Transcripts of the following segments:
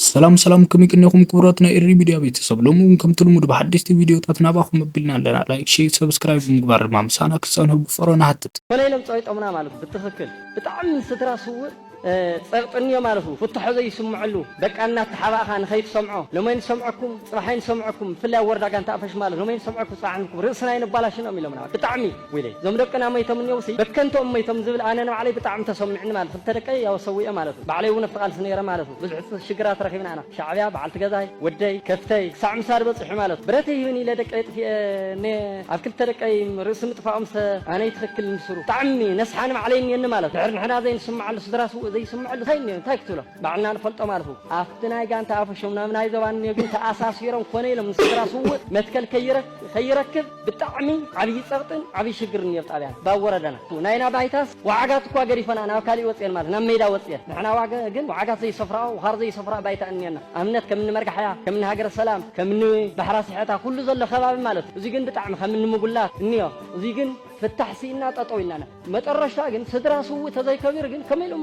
ሰላም ሰላም ከመይ ቅኒኹም ክቡራት ናይ ኤሪ ሚድያ ቤተሰብ ሎሚ እውን ከምቲ ልሙድ ብሓደሽቲ ቪድዮታት ናባኹም ኣቢልና ኣለና ላይክ ሼር ሰብስክራይብ ብምግባር ድማ ምሳና ክትፀንሑ ብፍቕሪ ንሓትት ኮነ ኢሎም ጸቂጦምና ማለቱ ብትኽክል ብጣዕሚ ስድራ ስውእ ጸቅጢ እኒኦ ማለቱ ፍትሖ ዘይስምዐሉ በቃ እናተሓባእኻ ንኸይትሰምዖ ሎሚ ኣይንሰምዐኩም ጽባሕ ኣይንሰምዐኩም ብፍላይ ኣብ ወረዳ ጋንታ ኣፈሽ ማለት ሎሚ ኣይንሰምዐኩም ጽባሕ ኣይንሰምዐኩም ርእስና ኣይነባላሽኖም ኢሎምና ብጣዕሚ ዊለይ እዞም ደቅና መይቶም እንየውሲ በከንቱ ኦም መይቶም ዝብል ኣነ ንባዕለይ ብጣዕሚ ተሶሚዕኒ ማለት ክልተ ደቀይ ያው ሰዊኤ ማለት ዩ ባዕለይ ውን ኣብቲ ቃልሲ ነይረ ማለት ዩ ብዙሕ ሽግራት ረኪብና ኢና ሻዕብያ ባዓልቲ ገዛይ ወደይ ከፍተይ ክሳዕ ምሳድ በፂሑ ማለት ዩ ብረተይ ሂብኒ ኢለ ደቀይ ኣጥፊኤ እኔ ኣብ ክልተ ደቀይ ርእሲ ምጥፋኦም ሰ ኣነ ይትክክል ንስሩ ብጣዕሚ ነስሓ ንባዕለይ እኒኤኒ ማለት ዩ ድሕር ንሕና ዘይንስመዐሉ ስድራስ ውእ ዘይስመዐሉ ታይ እኒኦ እንታይ ክትብሎ ባዕልና ንፈልጦ ማለቱ ኣብቲ ናይ ጋንታ ኣፈሾም ናብ ናይ ዞባ ኔግን ተኣሳሲሮም ኮነ ኢሎም ንስድራ ስውእ መትከል ከይረክብ ብጣዕሚ ዓብዪ ፀቕጥን ዓብዪ ሽግርን ነይሩ ጣብያና ብ ወረዳና ናይና ባይታስ ወዓጋት እኳ ገዲፈንኣ ናብ ካሊእ ወፅየን ማለት ናብ ሜዳ ወፅየን ንሕና ግን ወዓጋት ዘይሰፍራኦ ወኻር ዘይሰፍራኦ ባይታ እኒኤና ኣብነት ከምኒ መርጋሕያ ከምኒ ሃገረ ሰላም ከምኒ ባሕራ ስሐታ ኩሉ ዘሎ ከባቢ ማለት እዩ እዙይ ግን ብጣዕሚ ከምኒ ምጉላት እኒኦ እዙይ ግን ፍታሕ ስኢንና ጠጠው ኢልና መጠረሽታ ግን ስድራ ስውእ ተዘይከቢሩ ግን ከመይ ኢሉ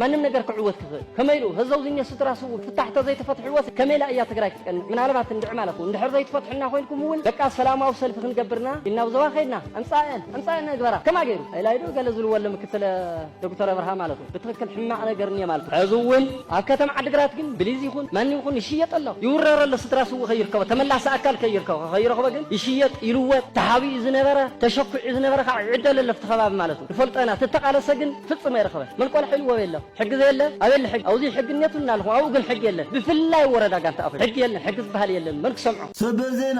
ማንም ነገር ክዕወት ክኽእል ከመይ ኢሉ ህዘውዝኘ ስድራ ስውእ ፍታሕ ተዘይተፈትሕዎስ ከመይ ኢላ እያ ትግራይ ክትቀንዕ ምናልባት እንድዕ ማለት እውን እንድሕር ዘይትፈትሑና ኮይንኩም እውን በቃ ሰላማዊ ሰልፊ ክንገብርና ኢልና ብዞባ ከይድና ዕምፃኤን ዕምፃኤን ነግበራ ከማ ገይሩ ኢላይዶ ገለ ዝልዎ ኣሎ ምክትል ዶክተር ኣብርሃ ማለት ብትኽክል ሕማቕ ነገር እኒኤ ማለት እዩ። ሕዚ እውን ኣብ ከተማ ዓዲግራት ግን ብሊዝ ይኹን ማንም ይኹን ይሽየጥ ኣሎ፣ ይውረር ኣሎ፣ ስድራ ስውእ ከይርከቦ፣ ተመላሲ ኣካል ከይርከቦ፣ ከይረኽቦ ግን ይሽየጥ፣ ይልወጥ፣ ተሓቢኡ ዝነበረ፣ ተሸኲዑ ዝነበረ ከዓ ይዕደል ኣሎ ኣብቲ ከባቢ ማለት እዩ። ንፈልጦ ኢና፣ እቲ እተቓለሰ ግን ፍፅም ኣይረኸበን። መልቆል ሓይሊ ወበይ ኣሎ? ሕጊ ዘየለ? ኣበየለ ሕጊ? ኣብዙይ ሕጊ እኒኦትም እናበልኹም ኣብኡ ግን ሕጊ የለን። ብፍላይ ወረዳ ጋንታ ኣኹይ ሕጊ የለን፣ ሕጊ ዝበሃል የለን፣ መን ክሰምዖ? ሰበዜና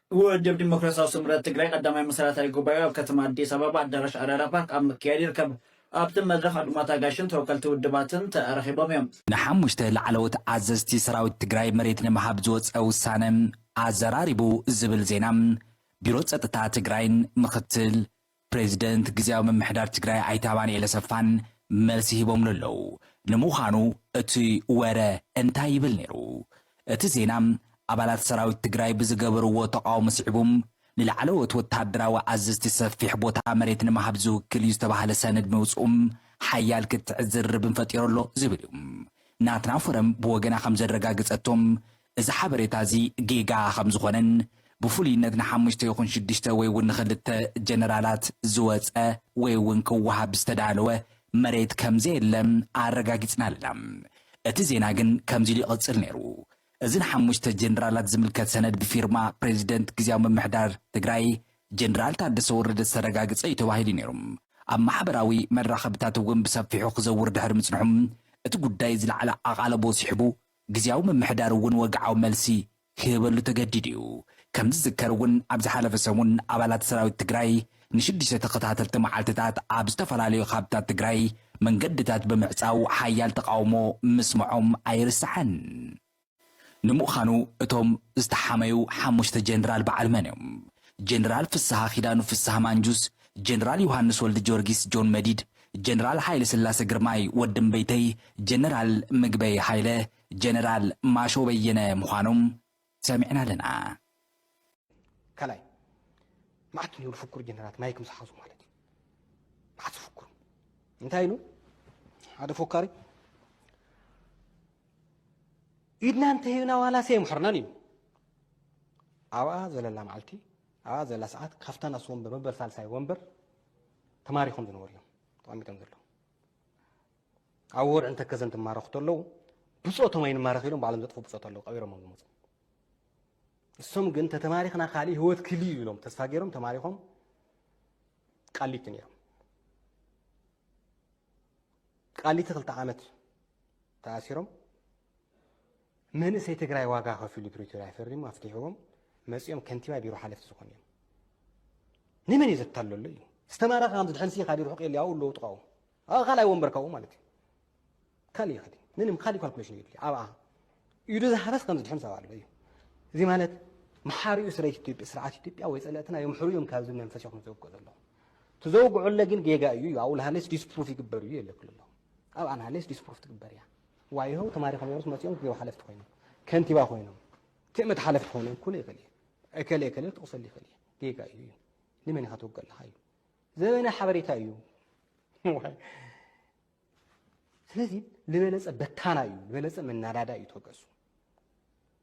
ውድብ ዲሞክራሲያዊ ስምረት ትግራይ ቀዳማይ መሰረታዊ ጉባኤኡ ኣብ ከተማ ኣዲስ ኣበባ ኣዳራሽ ኣራዳ ፓርክ ኣብ ምክያድ ይርከብ። ኣብቲ መድረኽ ዕጡቓት ኣጋይሽን ተወከልቲ ውድባትን ተረኺቦም እዮም። ንሓሙሽተ ላዕለዎት ኣዘዝቲ ሰራዊት ትግራይ መሬት ንምሃብ ዝወፀ ውሳነ ኣዘራሪቡ ዝብል ዜና ቢሮ ፀጥታ ትግራይን ምክትል ፕሬዚደንት ግዝያዊ ምምሕዳር ትግራይ ኣይተ ኣማኒኤል ኣሰፋን መልሲ ሂቦምሉ ኣለው። ንምዃኑ እቲ ወረ እንታይ ይብል ነይሩ? እቲ ዜና ኣባላት ሰራዊት ትግራይ ብዝገበርዎ ተቓውሞ ስዒቡ ንላዕለዎት ወታደራዊ ኣዘዝቲ ሰፊሕ ቦታ መሬት ንምሃብ ዝውክል እዩ ዝተባህለ ሰነድ ምውፅኡ ሓያል ክትዕን ዝርርብን ፈጢሩ ኣሎ ዝብል እዩ። ናትና ፎረም ብወገና ከምዘረጋገፀቶ እዚ ሓበሬታ እዚ ጌጋ ከም ዝኾነን ብፍሉይነት ንሓሙሽተ ይኹን ሽዱሽተ ወይ እውን ንኽልተ ጀነራላት ዝወጸ ወይ እውን ክወሃብ ዝተዳለወ መሬት ከም ዘየለ ኣረጋጊጽና ኣለና። እቲ ዜና ግን ከምዚ ኢሉ ይቕጽል ነይሩ፣ እዚ ንሓሙሽተ ጀነራላት ዝምልከት ሰነድ ብፊርማ ፕሬዚደንት ግዝያዊ ምምሕዳር ትግራይ ጀነራል ታደሰ ወረደ ዝተረጋገጸ እዩ ተባሂሉ ነይሩ። ኣብ ማሕበራዊ መራኸብታት እውን ብሰፊሑ ክዘውር ድሕሪ ምጽንሑ እቲ ጉዳይ ዝለዓለ ኣቓልቦ ስሒቡ ግዝያዊ ምምሕዳር እውን ወግዓዊ መልሲ ክህበሉ ተገዲዱ እዩ። ከም ዝዝከር እውን ኣብ ዝሓለፈ ሰሙን ኣባላት ሰራዊት ትግራይ ንሽዱሽተ ተኸታተልቲ መዓልቲታት ኣብ ዝተፈላለዩ ኻብታት ትግራይ መንገድታት ብምዕፃው ሓያል ተቓውሞ ምስምዖም ኣይርሳዕን። ንምዃኑ እቶም ዝተሓመዩ ሓሙሽተ ጀነራል በዓል መን እዮም? ጀነራል ፍስሃ ኪዳኑ ፍስሃ ማንጁስ፣ ጀነራል ዮሃንስ ወልድጀወርጊስ ጆን መዲድ፣ ጀነራል ሃይለስላሰ ግርማይ ወዲ እምበይተይ ጀነራል ምግበይ ሃይለ ጀነራል ማሾ በየነ ምዃኖም ሰሚዕና ኣለና። ካልኣይ መዓት ንብሉ ፍኩር ጀነራት ማይክ ምስ ሓዙ ማለት እዩ መዓት ዝፍኩሩ እንታይ ኢሉ ሓደ ፎካሪ ኢድና እንተሂብና ዋላስ የምሕርናን ኢሉ ኣብኣ ዘለላ መዓልቲ ኣብኣ ዘላ ሰዓት ካብታ ናሱ ወንበር መበል ሳልሳይ ወንበር ተማሪኾም ዝነበሩ እዮም ተቐሚጦም ዘለዉ ኣብ ወርዕን ተከዘን ትማረኹ ተለዉ ብፆቶም ኣይንማረኽ ኢሎም ባዕሎም ዘጥፉ ብፆት ኣለዉ ቀቢሮሞም ዝመፁ እሶም ግን ተተማሪኽና ካልእ ህይወት ክል እዩ ኢሎም ተስፋ ገይሮም ተማሪኾም ቃሊቲ ነይሮም ቃሊቲ ክልተ ዓመት ተኣሲሮም መንእሰይ ትግራይ ዋጋ ከፊሉ ፕሪቶርያ ፈሪሙ ኣፍቲሕዎም መፂኦም ከንቲባ ቢሮ ሓለፍቲ ዝኾኑ እዮም። ንመን እዩ ዘታለሎ እዩ ዝተማረኸ ከም ዝድሕንሲ ካዲ ርሑቅ የለ ኣብኡ ኣለዉ ጥቃኡ ኣብ ካልኣይ ወንበር ካብኡ ማለት እዩ ካልእ ይኸዲ ምንም ካልእ ካልኩሌሽን እዩ ድልዩ ኣብኣ ኢዱ ዝሃበስ ከም ዝድሕን ሰብኣ ኣሎ እዩ እዚ ማለት መሓሪኡ ስረ ኢትዮጵያ ስርዓት ኢትዮጵያ ወይ ፀለእትና የምሕሩ እዮም ካብዚ መንፈስ እዮም ዘውግዑ ዘለኹ ትዘውግዑለ ግን ጌጋ እዩ እዩ ኣብኡ ልሃለስ ዲስፕሩፍ ይግበር እዩ የለክሉ ኣለኹ ኣብኣ ንሃለስ ዲስፕሩፍ ትግበር እያ ዋይሆ ተማሪኾም እዮም መፂኦም ቢሮ ሓለፍቲ ኮይኖም ከንቲባ ኮይኖም ትእምት ሓለፍቲ ክኾኑ ክሉ ይኽእል እዩ እከለ እከለ ክጥቕሰሉ ይኽእል እዩ ጌጋ እዩ እዩ ንመን ኢኻ ትውግእ ኣለኻ እዩ ዘበነ ሓበሬታ እዩ ስለዚ ዝበለፀ በታና እዩ ዝበለፀ መናዳዳ እዩ ተወገሱ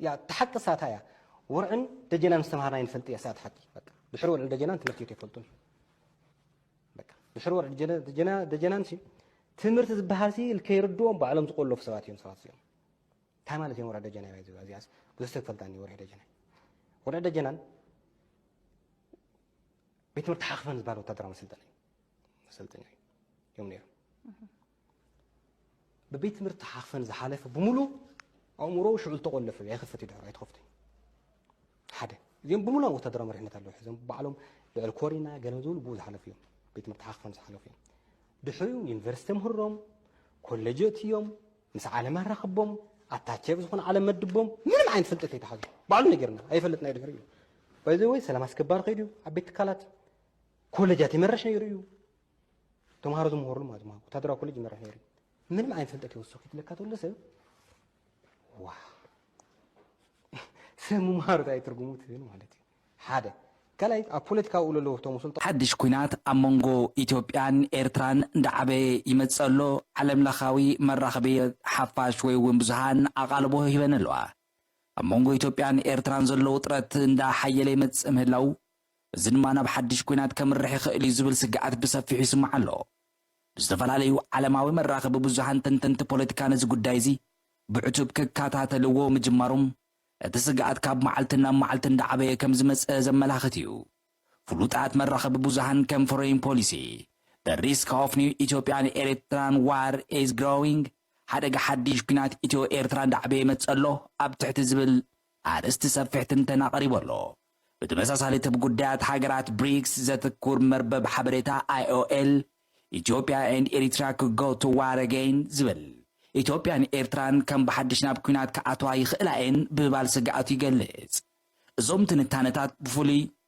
እያ እታ ሓቂ እሳታ እያ ውርዕን ደጀናን ዝተምሃርናዮ ንፈልጥ እያ እሳት ሓቂ በቃ ድሕሪ ወርዕን ደጀናን ትምህርቲ ቤት ኣይፈልጡን በቃ ድሕሪ ወርዕን ደጀናን ሲ ትምህርቲ ዝበሃል ሲ ከይርድዎም ባዕሎም ዝቆለፉ ሰባት እዮም ሰባት እዚኦም እንታይ ማለት እዮም ወርዒ ደጀና እያ ዝብላ እዚኣስ ብዙሕ ሰብ ፈልጣ ወርዒ ደጀና ወርዒ ደጀናን ቤት ትምህርቲ ሓኽፈን ዝበሃል ወታደራዊ መሰልጠኒ መሰልጠኛ እዮም ነይሮም ብቤት ትምህርቲ ሓኽፈን ዝሓለፈ ብምሉ ኣእምሮኡ ሽዑ ዝተቆለፈ እዩ ኣይኸፈት እዩ ድሕሩ ኣይተኸፍትን እዩ ሓደ እዚኦም ብምሉ ኣብ ወታደራዊ መሪሕነት ኣለዉ ሕዞም ባዕሎም ልዕል ኮሪና ገለ ዝብሉ ብኡ ዝሓለፉ እዮም ቤት ትምህርቲ ሓኽፈን ዝሓለፉ እዮም ድሕሪኡ ዩኒቨርሲቲ ምህሮም ኮሌጀት እዮም ምስ ዓለም ኣራኽቦም ኣታቸብ ዝኾነ ዓለም መድቦም ምንም ዓይነት ፍልጠት ኣይተሓዙ ባዕሉ ነገርና ኣይፈልጥና ድሕሪ እዩ በዚ ወይ ሰላም ኣስከባሪ ከይዱ ኣብ ቤት ትካላት ኮሌጃት ይመረሽ ነይሩ እዩ ተምሃሮ ዝምሃሩሉ ማለት ማለት ወታደራዊ ኮሌጅ ይመርሕ ነይሩ ምንም ዓይነት ፍልጠት ይወስኽ ይትለካ ተሎ ሰብ ዋ ሰብ ምምሃሩ እንታይ ትርጉሙ ትብል ማለት እዩ ሓደ ካልኣይ ኣብ ፖለቲካዊ ውሎ ኣለዎ እቶም ስልጣ ሓድሽ ኲናት ኣብ መንጎ ኢትዮጵያን ኤርትራን እንዳዓበየ ይመጽእ ኣሎ፣ ዓለም ለኻዊ መራኽቢት ሓፋሽ ወይ እውን ብዙሃን ኣቓልቦ ሂበን ኣለዋ። ኣብ መንጎ ኢትዮጵያን ኤርትራን ዘሎ ውጥረት እንዳ ሓየለ ይመጽእ ምህላዉ እዚ ድማ ናብ ሓድሽ ኲናት ከምርሕ ይኽእል እዩ ዝብል ስግኣት ብሰፊሑ ይስማዕ ኣሎ። ብዝተፈላለዩ ዓለማዊ መራኸቢ ብዙሃን ተንተንቲ ፖለቲካ ነዚ ጉዳይ እዚ ብዕቱብ ክከታተልዎ ምጅማሮም እቲ ስግኣት ካብ መዓልቲ ናብ መዓልቲ እንዳዓበየ ከምዝመጸ ዘመላኽት እዩ። ፍሉጣት መራኸቢ ብዙሃን ከም ፎረይን ፖሊሲ፣ The Risk of New Ethiopian Eritrean War is Growing፣ ሓደጋ ሓድሽ ኲናት ኢትዮ-ኤርትራ እንዳዓበየ ይመጽእ ኣሎ ኣብ ትሕቲ ዝብል ኣርእስቲ ሰፊሕ ትንተና ቀሪቡ ኣሎ። ብተመሳሳሊ ትብ ጉዳያት ሃገራት ብሪክስ ዘትኩር መርበብ ሓበሬታ IOL Ethiopia and Eritrea could go to war again ዝብል ኢትዮጵያን ኤርትራን ከም ብሓድሽ ናብ ኲናት ክኣትዋ ይኽእላ እየን ብምባል ስግኣቱ ይገልጽ። እዞም ትንታነታት ብፍሉይ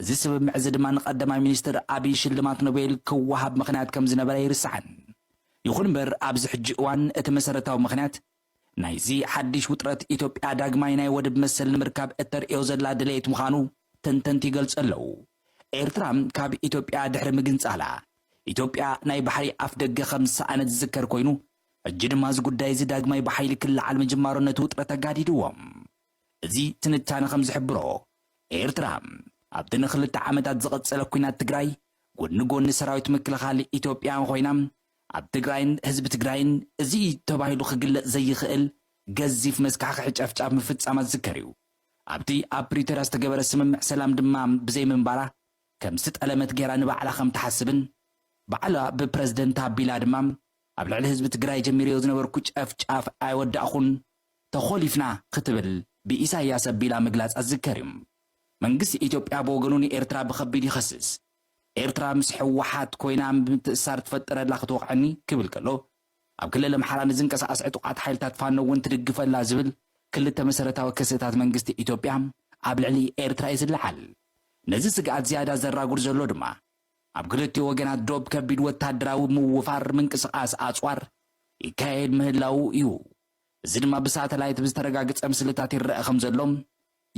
እዚ ስምምዕ'ዚ ድማ ንቀዳማይ ሚኒስትር ኣብይ ሽልማት ኖቤል ክወሃብ ምኽንያት ከምዝነበረ ኣይርሳዕን። ይኹን'ምበር ኣብዚ ሕጂ እዋን እቲ መሰረታዊ ምኽንያት ናይዚ ሓዲሽ ውጥረት ኢትዮጵያ ዳግማይ ናይ ወደብ መሰል ንምርካብ እተርእዮ ዘላ ድሌት ምዃኑ ተንተንቲ ይገልጹ ኣለዉ። ኤርትራ ካብ ኢትዮጵያ ድሕሪ ምግንጻላ፣ ኢትዮጵያ ናይ ባሕሪ ኣፍደገ ከምዝሰኣነት ዝዝከር ኮይኑ፣ ሕጂ ድማ እዚ ጉዳይ'ዚ ዳግማይ ብሓይሊ ክለዓል ምጅማሩ ነቲ ውጥረት ኣጋዲድዎ። እዚ ትንታነ ከም ዝሕብሮ፣ ኤርትራ ኣብቲ ንኽልተ ዓመታት ዝቐጸለ ኲናት ትግራይ ጎድኒ ጎድኒ ሰራዊት ምክልኻል ኢትዮጵያ ኮይና፣ ኣብ ትግራይን ህዝቢ ትግራይን እዚ እዩ ተባሂሉ ክግለጽ ዘይኽእል ገዚፍ መስካሕኽሒ ጨፍጫፍ ምፍጻማ ዝዝከር እዩ። ኣብቲ ኣብ ፕሪቶርያ ዝተገበረ ስምምዕ ሰላም ድማ ብዘይምንባራ ከም ዝጠለመት ገይራ ንባዕላ ከም ትሓስብን ባዕላ ብፕረዚደንት ኣቢላ ድማ ኣብ ልዕሊ ህዝቢ ትግራይ ጀሚረዮ ዝነበርኩ ጨፍጫፍ ኣይወዳእኹን፣ ተኾሊፍና ክትብል ብኢሳይያስ ኣቢላ ምግላጻ ዝዝከር እዩ። መንግስቲ ኢትዮጵያ ብወገኑ ንኤርትራ ብኸቢድ ይኸስስ። ኤርትራ ምስ ህወሓት ኮይና ምትእስሳር ትፈጥረላ ክትወቕዐኒ ክብል ከሎ፣ ኣብ ክልል ኣምሓራ ንዝንቀሳቐስ ዕጡቓት ሓይልታት ፋኖ እውን ትድግፈላ ዝብል ክልተ መሰረታዊ ክስታት መንግስቲ ኢትዮጵያ ኣብ ልዕሊ ኤርትራ እዩ ዝለዓል። ነዚ ስግኣት ዝያዳ ዘራጉድ ዘሎ ድማ ኣብ ክልቲኡ ወገናት ዶብ ከቢድ ወተሃደራዊ ምውፋር፣ ምንቅስቓስ ኣጽዋር፣ ይካየድ ምህላዉ እዩ። እዚ ድማ ብሳተላይት ብዝተረጋግጸ ምስልታት ይረኣ ከምዘሎ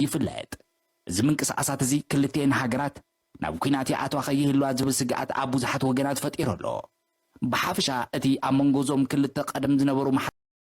ይፍለጥ። እዚ ምንቅስቓሳት እዚ ክልቲኤን ሃገራት ናብ ኲናት ይኣትዋ ከይህልዋ ዝብል ስግኣት ኣብ ብዙሓት ወገናት ፈጢሩ ኣሎ። ብሓፈሻ እቲ ኣብ መንጎ እዞም ክልተ ቀደም ዝነበሩ